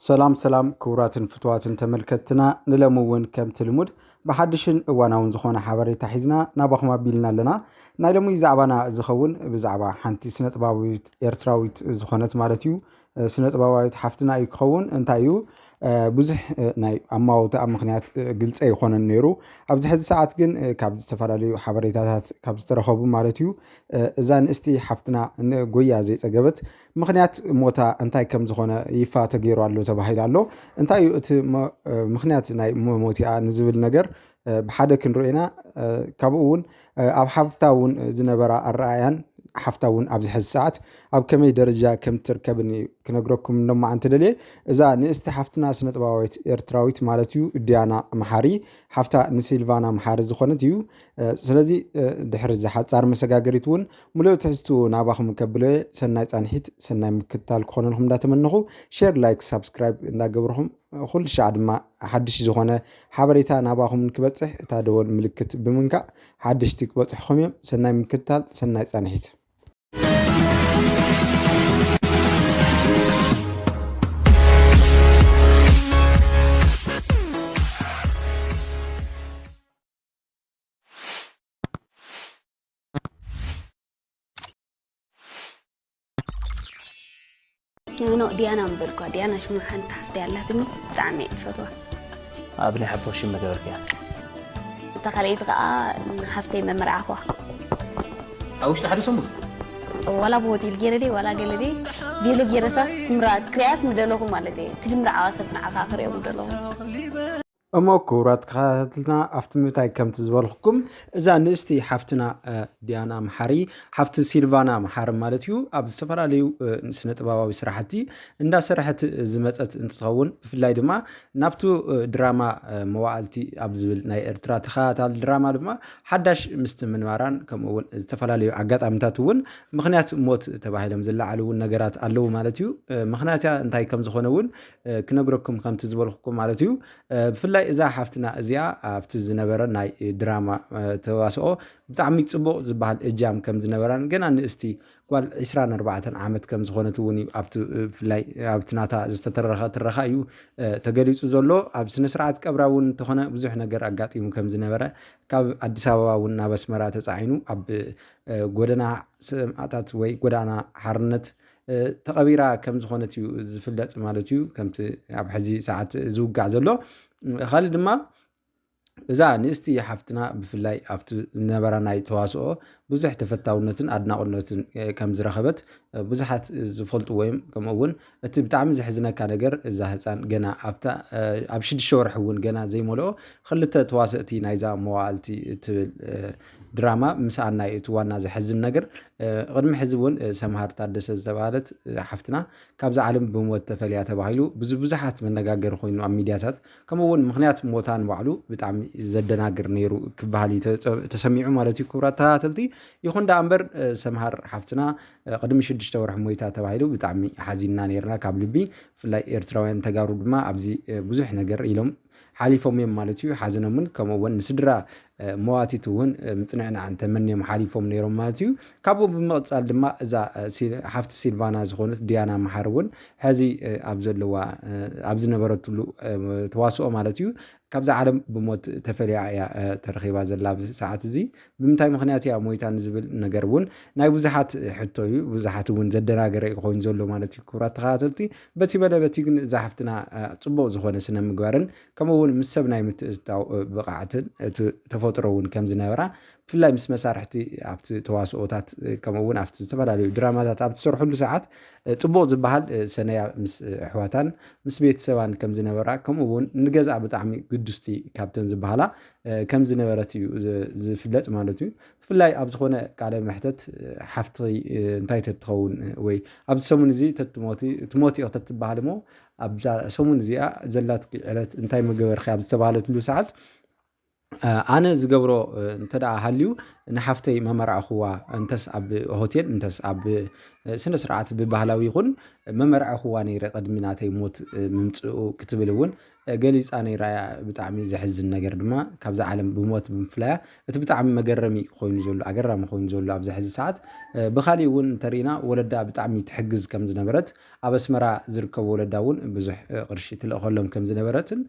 ሰላም ሰላም ክቡራትን ፍትዋትን ተመልከትትና ንለሚ እውን ከምቲ ልሙድ ብሓድሽን እዋናውን ዝኾነ ሓበሬታ ሒዝና ናባኹም ኣቢልና ኣለና ናይ ሎሚ ዛዕባና ዝኸውን ብዛዕባ ሓንቲ ስነ ጥባዊት ኤርትራዊት ዝኾነት ማለት እዩ ስነ ጥበባዊት ሓፍትና እዩ ክኸውን እንታይ እዩ ብዙሕ ናይ ኣማውትኣ ምክንያት ግልፀ ይኮነን ነይሩ ኣብዚ ሕዚ ሰዓት ግን ካብ ዝተፈላለዩ ሓበሬታታት ካብ ዝተረኸቡ ማለት እዩ እዛ ንእስቲ ሓፍትና ጎያ ዘይፀገበት ምኽንያት ሞታ እንታይ ከም ዝኾነ ይፋ ተገይሩ ኣሎ ተባሂሉ ኣሎ። እንታይ እዩ እቲ ምኽንያት ናይ መሞቲኣ ንዝብል ነገር ብሓደ ክንሪኦ ኢና። ካብኡ እውን ኣብ ሓፍታ እውን ዝነበራ ኣረኣያን ሓፍታ እውን ኣብዚ ሕዚ ሰዓት ኣብ ከመይ ደረጃ ከም ትርከብን እዩ ክነግረኩም ሎማዓንቲ ደልየ እዛ ንእስቲ ሓፍትና ስነጥበባዊት ኤርትራዊት ማለት እዩ ዲያና መሓሪ ሓፍታ ንሲልቫና መሓሪ ዝኾነት እዩ ስለዚ ድሕሪ እዚ ሓፃር መሰጋገሪት እውን ሙሉእ ትሕዝትኡ ናባኹም ከብሎየ ሰናይ ፃንሒት ሰናይ ምክትታል ክኾነልኩም እንዳተመነኹ ሼር ላይክ ሳብስክራይብ እንዳገብርኹም ኩሉ ሻዕ ድማ ሓድሽ ዝኾነ ሓበሬታ ናባኹም ክበፅሕ እታ ደወል ምልክት ብምንካእ ሓድሽቲ ክበፅሕኹም እዮም ሰናይ ምክትታል ሰናይ ፃንሒት ኖ ዲያና ምበልኳ ዲያና ሽሙ ሓንቲ ሓፍቲ ኣላትኒ ብጣዕሚ እየ ዝፈትዋ ኣብ ናይ ሓብትኺ ሽም መገበርክያ እታ ካልኣይቲ ከዓ ሓፍተይ መመርዓኹዋ ኣብ ውሽጢ ሓደ ሰሙን ዋላ ብሆቴል ገይረ ደይ ዋላ ገለ ደይ ገለ ገይረታ ክምራ ክሪያስ ምደለኹ ማለት እየ እቲ ድምርዓዋ ሰብ ንዓኻ ክሪኦ ምደለኹ እሞ ክቡራት ተኸታተልትና ኣብቲ ምንታይ ከምቲ ዝበልኩኩም እዛ ንእስቲ ሓፍትና ዲያና መሓሪ ሓፍቲ ሲልቫና መሓሪ ማለት እዩ ኣብ ዝተፈላለዩ ስነ ጥበባዊ ስራሕቲ እንዳሰራሕት ዝመፀት እንትኸውን ብፍላይ ድማ ናብቲ ድራማ መዋእልቲ ኣብ ዝብል ናይ ኤርትራ ተኸታታሊ ድራማ ድማ ሓዳሽ ምስቲ ምንባራን ከምኡ እውን ዝተፈላለዩ ኣጋጣሚታት እውን ምክንያት ሞት ተባሂሎም ዝለዓሉ እውን ነገራት ኣለዉ ማለት እዩ። ምክንያት እንታይ ከም ዝኾነ እውን ክነግረኩም ከምቲ ዝበልኩኩም ማለት እዩ ብፍላይ እዛ ሓፍትና እዚኣ ኣብቲ ዝነበረ ናይ ድራማ ተዋስኦ ብጣዕሚ ፅቡቅ ዝበሃል እጃም ከም ዝነበራን ገና ንእስቲ ጓል 24 ዓመት ከም ዝኾነት እውን እዩ ብፍላይ ኣብቲ ናታ ዝተተረኸ ትረኻ እዩ ተገሊፁ ዘሎ ኣብ ስነ ስርዓት ቀብራ እውን እንተኾነ ብዙሕ ነገር ኣጋጢሙ ከም ዝነበረ ካብ ኣዲስ ኣበባ እውን ናብ ኣስመራ ተፃዒኑ ኣብ ጎደና ሰማእታት ወይ ጎዳና ሓርነት ተቐቢራ ከም ዝኾነት እዩ ዝፍለጥ ማለት እዩ ከምቲ ኣብ ሕዚ ሰዓት ዝውጋዕ ዘሎ ካልእ ድማ እዛ ንእስቲ ሓፍትና ብፍላይ ኣብቲ ዝነበራ ናይ ተዋስኦ ብዙሕ ተፈታውነትን ኣድናቑነትን ከም ዝረኸበት ብዙሓት ዝፈልጡ ወይም ከምኡ እውን እቲ ብጣዕሚ ዘሕዝነካ ነገር እዛ ህፃን ገና ኣብታ ኣብ ሽዱሽተ ወርሒ እውን ገና ዘይመልኦ ክልተ ተዋሰእቲ ናይዛ መዋእልቲ እትብል ድራማ ምስኣና እዩ እቲ ዋና ዘሕዝን ነገር ቅድሚ ሕዚ እውን ሰምሃር ታደሰ ዝተባሃለት ሓፍትና ካብዚ ዓለም ብሞት ተፈልያ ተባሂሉ ብዙ ብዙሓት መነጋገሪ ኮይኑ ኣብ ሚዲያታት ከምኡ እውን ምክንያት ሞታ ንባዕሉ ብጣዕሚ ዘደናግር ነይሩ ክበሃል እዩ ተሰሚዑ ማለት እዩ ክቡራት ተኸታተልቲ ይኹን ዳኣ እምበር ሰምሃር ሓፍትና ቅድሚ ሽዱሽተ ወርሒ ሞይታ ተባሂሉ ብጣዕሚ ሓዚንና ነይርና ካብ ልቢ ብፍላይ ኤርትራውያን ተጋሩ ድማ ኣብዚ ብዙሕ ነገር ኢሎም ሓሊፎም እዮም ማለት እዩ። ሓዘኖምን ከምኡ እውን ንስድራ መዋቲት እውን ምፅንዕናዕን ተመንዮም ሓሊፎም ነይሮም ማለት እዩ። ካብኡ ብምቕፃል ድማ እዛ ሓፍቲ ሲልቫና ዝኾነት ዲያና መሓር እውን ሕዚ ኣብ ዘለዋ ኣብ ዝነበረትሉ ተዋስኦ ማለት እዩ ካብዚ ዓለም ብሞት ተፈልያ እያ ተረኺባ ዘላ ኣብዚ ሰዓት እዚ ብምንታይ ምክንያት እያ ሞይታ ንዝብል ነገር እውን ናይ ብዙሓት ሕቶ እዩ ብዙሓት እውን ዘደናገረ እዩ ኮይኑ ዘሎ ማለት እዩ ክብራት ተኸታተልቲ በቲ በለ በቲ ግን እዛ ሓፍትና ፅቡቅ ዝኾነ ስነ ምግባርን ከምኡ እውን ምስ ሰብ ናይ ምትእትታው ብቕዓትን እቲ ተፈጥሮ እውን ከም ዝነበራ ብፍላይ ምስ መሳርሕቲ ኣብቲ ተዋስኦታት ከምኡ እውን ኣብቲ ዝተፈላለዩ ድራማታት ኣብ ትሰርሕሉ ሰዓት ፅቡቅ ዝበሃል ሰነያ ምስ ኣሕዋታን ምስ ቤተሰባን ከም ዝነበራ ከምኡ እውን ንገዛ ብጣዕሚ ግዱስቲ ካብተን ዝበሃላ ከም ዝነበረት እዩ ዝፍለጥ ማለት እዩ። ብፍላይ ኣብ ዝኾነ ቃለ መሕተት ሓፍቲ እንታይ ተትኸውን ወይ ኣብዚ ሰሙን እዚ ተትሞቲ ትሞቲ ኢኽ ተትበሃል እሞ ኣብዛ ሰሙን እዚኣ ዘላትኪ ዕለት እንታይ ምገበርኪ ኣብ ዝተባሃለትሉ ሰዓት ኣነ ዝገብሮ እንተደኣ ሃልዩ ንሓፍተይ መመርዕኹዋ እንተስ ኣብ ሆቴል እንተስ ኣብ ስነ ስርዓት ብባህላዊ ይኹን መመርዕኹዋ ነይረ ቅድሚ ናተይ ሞት ምምፅኡ ክትብል እውን ገሊጻ ነይራ እያ። ብጣዕሚ ዘሕዝን ነገር ድማ ካብዛ ዓለም ብሞት ብምፍላያ እቲ ብጣዕሚ መገረሚ ኮይኑ ዘሎ ኣገራሚ ኮይኑ ዘሎ ኣብዚ ሕዚ ሰዓት ብካሊእ እውን እንተሪኢና ወለዳ ብጣዕሚ ትሕግዝ ከም ዝነበረት ኣብ ኣስመራ ዝርከቡ ወለዳ እውን ብዙሕ ቅርሺ ትልእኸሎም ከም ዝነበረትን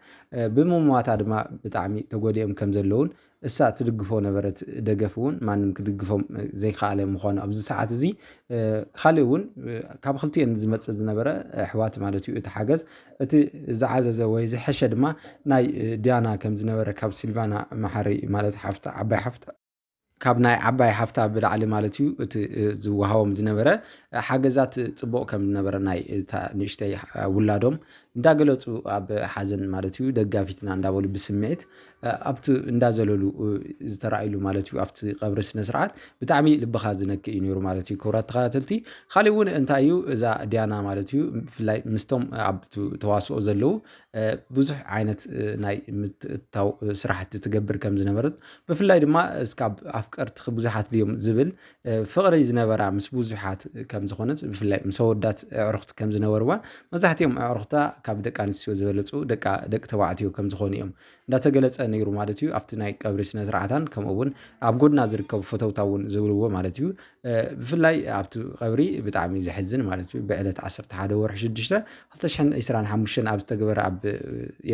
ብምሟታ ድማ ብጣዕሚ ተጎዲኦም ከም ዘለውን እሳ ትድግፎ ነበረት ደገፍ እውን ማንም ክድግፎም ዘይከኣለ ምዃኑ ኣብዚ ሰዓት እዚ ካልእ እውን ካብ ክልቲኤን ዝመፅእ ዝነበረ ኣሕዋት ማለት እዩ እቲ ሓገዝ እቲ ዝዓዘዘ ወይ ዝሐሸ ድማ ናይ ዲያና ከም ዝነበረ ካብ ሲልቫና መሓሪ ማለት ሓፍታ ዓባይ ሓፍታ ካብ ናይ ዓባይ ሓፍታ ብላዕሊ ማለት እዩ እቲ ዝወሃቦም ዝነበረ ሓገዛት ፅቡቕ ከም ዝነበረ ናይ እታ ንእሽተይ ውላዶም እንዳገለፁ ኣብ ሓዘን ማለት እዩ ደጋፊትና እንዳበሉ ብስምዒት ኣብቲ እንዳ ዘለሉ ዝተረኣይሉ ማለት እዩ ኣብቲ ቀብሪ ስነስርዓት ብጣዕሚ ልብኻ ዝነክእ እዩ ነይሩ ማለት እዩ ክብራት ተኸታተልቲ ካሊእ እውን እንታይ እዩ እዛ ዲያና ማለት እዩ ብፍላይ ምስቶም ኣብ ተዋስኦ ዘለዉ ብዙሕ ዓይነት ናይ ምትእታው ስራሕቲ ትገብር ከም ዝነበረት ብፍላይ ድማ እስካብ ኣፍቀርትኺ ብዙሓት ድዮም ዝብል ፍቕሪ ዝነበራ ምስ ብዙሓት ከም ዝኾነት ብፍላይ ምስ ኣወዳት ኣዕሩኽቲ ከም ዝነበርዋ መብዛሕትኦም ኣዕሩኽታ ካብ ደቂ ኣንስትዮ ዝበለፁ ደቂ ተባዕትዮ ከም ዝኾኑ እዮም እንዳተገለፀ ነይሩ ማለት እዩ ኣብቲ ናይ ቀብሪ ስነ ስርዓታን ከምኡ እውን ኣብ ጎድና ዝርከቡ ፈተውታ እውን ዝብልዎ ማለት እዩ ብፍላይ ኣብቲ ቀብሪ ብጣዕሚ ዘሕዝን ማለት እዩ ብዕለት 11 ወርሒ 6 2025 ኣብ ዝተገበረ ኣብ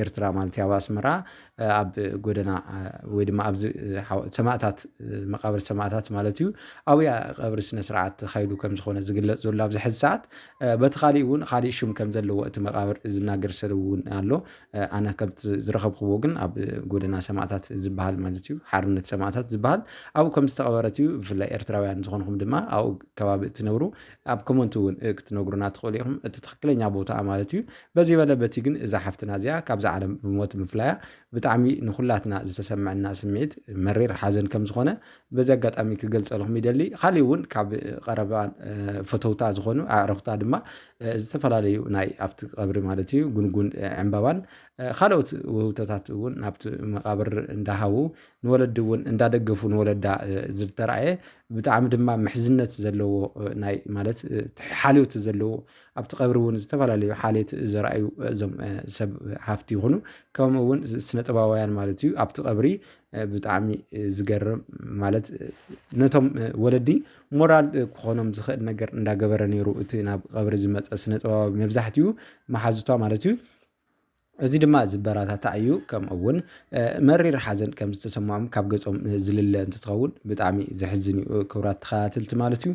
ኤርትራ ማለት ኣብ ኣስመራ ኣብ ጎደና ወይ ድማ ኣብዚ ሰማእታት መቃብር ሰማእታት ማለት እዩ ኣብያ ቀብሪ ስነ ስርዓት ተኻይዱ ከም ዝኾነ ዝግለጽ ዘሎ ኣብዚ ሕዚ ሰዓት በቲ ካሊእ እውን ካሊእ ሽም ከም ዘለዎ እቲ መቃብር ዝናገር ሰብ እውን ኣሎ ኣነ ከምቲ ዝረኸብክዎ ግን ኣብ ጎደና ሰማእታት ዝበሃል ማለት እዩ ሓርነት ሰማእታት ዝበሃል ኣብኡ ከም ዝተቐበረት እዩ ብፍላይ ኤርትራውያን ዝኾንኹም ድማ ኣብኡ ከባቢ እትነብሩ ኣብ ኮመንት እውን ክትነግሩና ትኽእሉ ኢኹም እቲ ትኽክለኛ ቦታ ማለት እዩ በዚ በለ በቲ ግን እዛ ሓፍትና እዚኣ ካብዛ ዓለም ብሞት ምፍላያ ብጣዕሚ ንኹላትና ዝተሰመዐና ስምዒት መሪር ሓዘን ከም ዝኾነ በዚ ኣጋጣሚ ክገልጸልኹም ይደሊ። ካሊእ እውን ካብ ቀረባ ፈተውታ ዝኾኑ ኣዕርኽታ ድማ ዝተፈላለዩ ናይ ኣብቲ ቀብሪ ማለት እዩ ጉንጉን ዕምባባን ካልኦት ውህብቶታት እውን ናብቲ መቃብር እንዳሃቡ ንወለዲ እውን እንዳደገፉ ንወለዳ ዝተረኣየ ብጣዕሚ ድማ ምሕዝነት ዘለዎ ናይ ማለት ሓልዮት ዘለዎ ኣብቲ ቀብሪ እውን ዝተፈላለዩ ሓልየት ዘርኣዩ እዞም ሰብ ሃፍቲ ይኹኑ ከምኡ እውን ስነጥበባውያን ማለት እዩ ኣብቲ ቀብሪ ብጣዕሚ ዝገርም ማለት ነቶም ወለዲ ሞራል ክኾኖም ዝኽእል ነገር እንዳገበረ ነይሩ እቲ ናብ ቀብሪ ዝመፀ ስነጥበባዊ መብዛሕትኡ መሓዙቷ ማለት እዩ እዚ ድማ ዝበራታታዕ እዩ ከምኡ እውን መሪር ሓዘን ከም ዝተሰምዖም ካብ ገጾም ዝልለ እንትትኸውን ብጣዕሚ ዘሕዝን እዩ ክብራት ተኸታተልቲ ማለት እዩ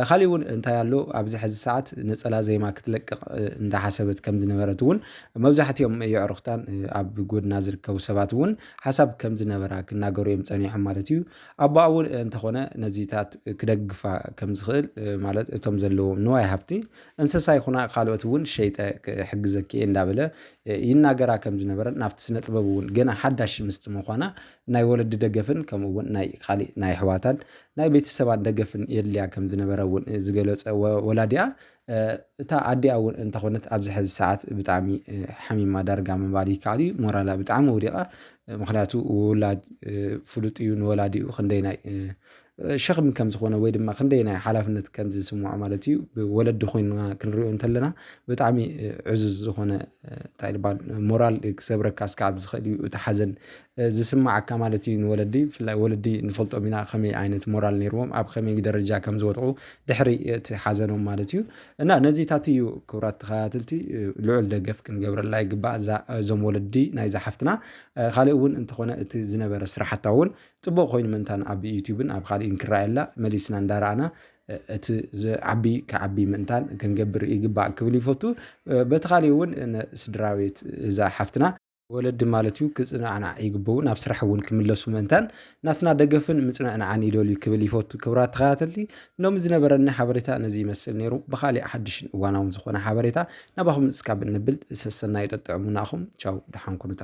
ካሊእ እውን እንታይ ኣሎ ኣብዚ ሕዚ ሰዓት ነፀላ ዜማ ክትለቅቕ እንዳሓሰበት ከም ዝነበረት እውን መብዛሕትኦም የዕሩኽታን ኣብ ጎድና ዝርከቡ ሰባት እውን ሓሳብ ከም ዝነበራ ክናገሩ እዮም ፀኒሖም ማለት እዩ ኣቦኣ እውን እንተኾነ ነዚታት ክደግፋ ከም ዝኽእል ማለት እቶም ዘለዎም ንዋይ ሃፍቲ እንስሳ ይኹና ካልኦት እውን ሸይጠ ክሕግዘኪ እየ እንዳበለ ይናገራ ከም ዝነበረን ናብቲ ስነ ጥበብ እውን ገና ሓዳሽ ምስቲ ምዃና ናይ ወለዲ ደገፍን ከምኡ እውን ናይ ካሊእ ናይ ኣሕዋታን ናይ ቤተሰባን ደገፍን የድልያ ከም ዝነበረ እውን ዝገለፀ ወላዲኣ እታ ኣዲኣ እውን እንተኾነት ኣብዚ ሕዚ ሰዓት ብጣዕሚ ሓሚማ ዳርጋ ምባል ይከኣል እዩ ሞራላ ብጣዕሚ ወዲቓ ምክንያቱ ውላድ ፍሉጥ እዩ ንወላዲኡ ክንደይናይ ሸኽሚ ከም ዝኾነ ወይ ድማ ክንደይ ናይ ሓላፍነት ከም ዝስምዖ ማለት እዩ ብወለዲ ኮይንና ክንሪኦ እንተለና ብጣዕሚ ዕዙዝ ዝኾነ እንታይ ልባል ሞራል ክሰብረካ ስካብ ዝኽእል እዩ እቲ ሓዘን ዝስማዓካ ማለት እዩ ንወለዲ ብፍላይ ወለዲ ንፈልጦም ኢና ከመይ ዓይነት ሞራል ነይርዎም ኣብ ከመይ ደረጃ ከም ዝወድቑ ድሕሪ እቲ ሓዘኖም ማለት እዩ እና ነዚታት እዩ ክብራት ተኸታተልቲ ልዑል ደገፍ ክንገብረላ ይግባእ እዞም ወለዲ ናይዛ ሓፍትና ካልእ እውን እንተኾነ እቲ ዝነበረ ስራሕታ እውን ጽቡቅ ኮይኑ ምንታን ኣብ ዩቱብን ኣብ ኻሊእን ክረኣየላ መሊስና እንዳረኣና እቲ ዝዓቢ ክዓቢ ምእንታን ክንገብር ይግባእ ክብል ይፈቱ በቲ ኻሊእ እውን ስድራቤት እዛ ሓፍትና ወለዲ ማለት እዩ ክጽናዕናዕ ይግበኡ ናብ ስራሕ እውን ክምለሱ ምእንታን ናትና ደገፍን ምጽንዕንዓን ይደልዩ ክብል ይፈቱ ክብራት ተኸታተልቲ ሎሚ ዝነበረኒ ሓበሬታ ነዚ ይመስል ነይሩ ብኻሊእ ሓድሽን እዋናውን ዝኾነ ሓበሬታ ናባኹም እስካብ እንብል ሰሰናዩ ጠጥዕሙናኹም ቻው ደሓን ኩኑታ